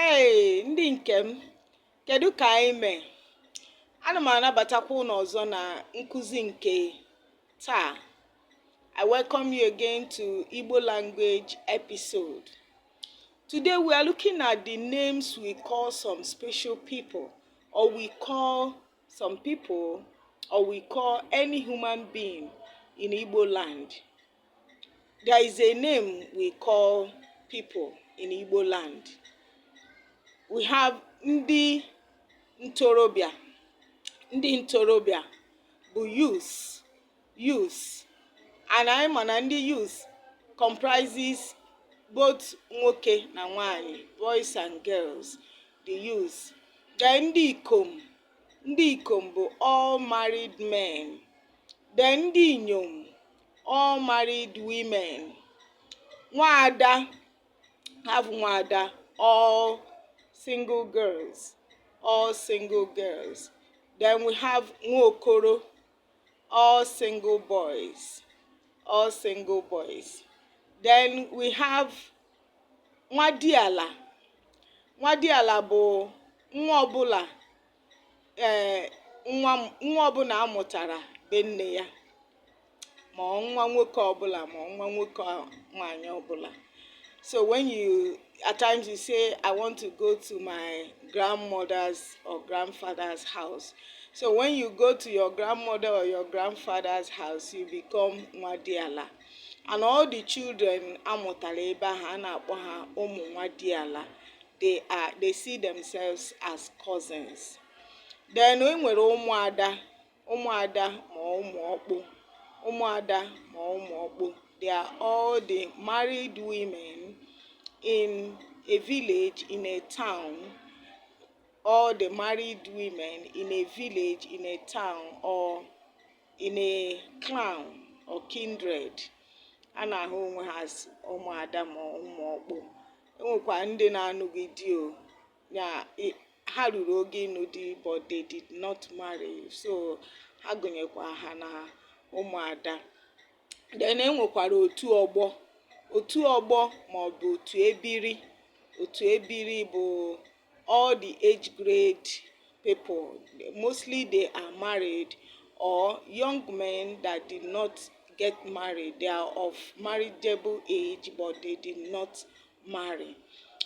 ee ndị nke m kedu ka anyị mee ana m anabatakwa ụnụ ọzọ na nkụzi nke taa i welcome you again to igbo language episode today we are looking at the names we call some special people or we call some people or we call any human being in igbo land There is a name we call people in Igbo land. We have ndị ntorobịa. Ndị ntorobịa bụ youths, youths. And anyị ma na ndị youths comprises both nwoke na nwanyị, boys and girls, the youths. Then ndị ikom, ndị ikom bụ all married men. Then ndị inyom all married women nwaada have nwaada all single girls all single girls then we have nwaokoro all single boys all single boys then we have nwadiala nwadiala bụ nwa ọbụla ee nwa nwa ọbụla a mụtara be nne ya ma nwa nwoke ọbụla ma nwa nwoke nwaanyị ọbụla so when you at times you say i want to go to my grandmother's or grandfather's house so when you go to your grandmother or your grandfather's house you become nwadiala and all the children a mụtara ebe ahụ a na-akpọ ha ụmụ nwadiala they are they see themselves as cousins then e nwere ụmụada ụmụada ma ụmụ ọkpụ ụmụada ma ụmụ ọkpụ they are all the married women in a village in a town all the married women in a village in a town or In a clan or kindred, ha na-ahụ onwe ha as ụmụada ma ụmụọkpụ. E nwekwara ndị na-anụghị di o ha ruru oge ịnụ di but they did not marry so ha gụnyekwa ha na ụmụada. Then e nwekwara otu ọgbọ otu ọgbọ maọbụ otu ebiri otu ebiri bụ all the age grade people mostly they are married or young men that did not get married they are of marriageable age but they did not marry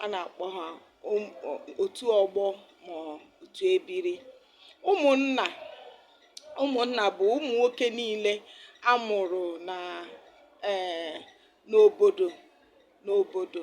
a na-akpọ ha um- o- otu ọgbọ ma otu ebiri ụmụnna ụmụnna bụ ụmụ nwoke niile a mụrụ na ee n'obodo n'obodo